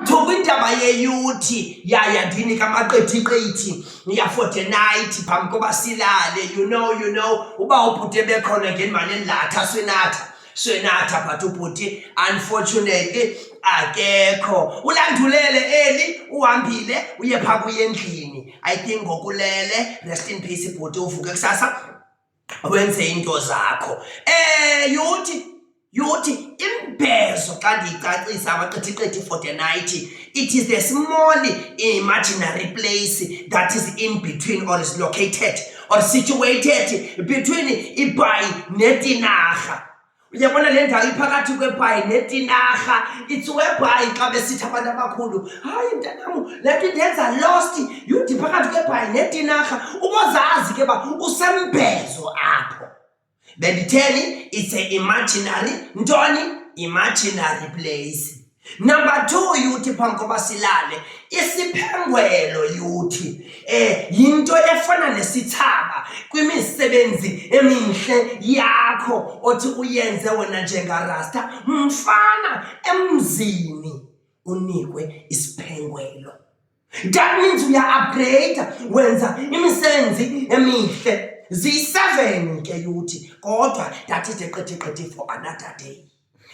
Thoba indaba yeyuthi yaya ndini kamaqethiqethi ya for the night phambi koba silale you know you know uba ubhuti ebekhona ngenimane ndilatha swinatha swinatha but ubhuti unfortunately akekho ulandulele eli uhambile uye phaa kuye endlini i think ngokulele rest in peace ibhuti uvuke kusasa wenze iinto zakho. Eh yuthi yuthi imbezo xa ndiyicacisa amaqithiqithi for the night it is a small imaginary place that is in between or is located or situated between ibhayi netinarha uyabona le ndawo iphakathi kwebhayi netinarha it's webhayi xa besithi abantu abakhulu hayi mntanam le nto indenza lost yudi phakathi kwebhayi netinarha ubozazi ke uba usembhezo apho benditheni it's a imaginary ntoni imaginary place Number two yuthi phambi koba silale isiphengwelo yuthi eh yinto efana nesithaba kwimisebenzi eminhle yakho othi uyenze wena njengarasta mfana emzini unikwe isiphengwelo That means we are upgrade wenza imisebenzi emihle ziyi-seven ke yuthi kodwa ndathethe qethi qethi for another day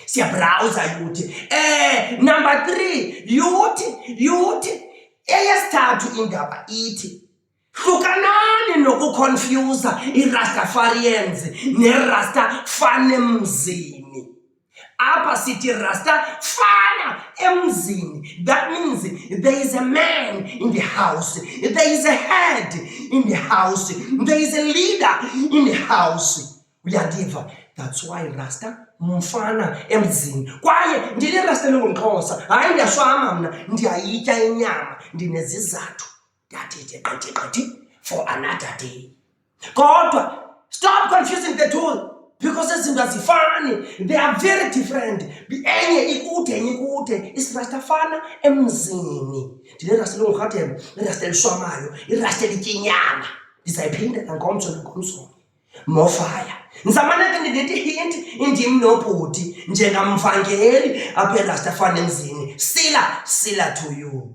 siyabrawuza yuthi um number three yuthi yuthi eyesithathu indaba ithi hlukanani nokukhonfyuza irastafarians nerasta fan emzini apha sithi rasta fana emzini that means there is a man in the house there is a head in the house there is a leader in the house uyandiva that's why rasta mfana emzini kwaye ndine rasta elingumxhosa hayi ndiyashwama mna ndiyayitya inyama ndinezizathu that is a qati qati for another day kodwa stop confusing the two because izinto azifani they are very different enye ikude enye ikude isirasta fana emzini ndinerasta elingurhatebe irasta elishwamayo irasta elityinyaana ndizayiphinda nangomso nangomsonye mofaya ndizamane ke ndindithi hinti indim nobhuti njengamvangeli apha erasta fana emzini sila sila to you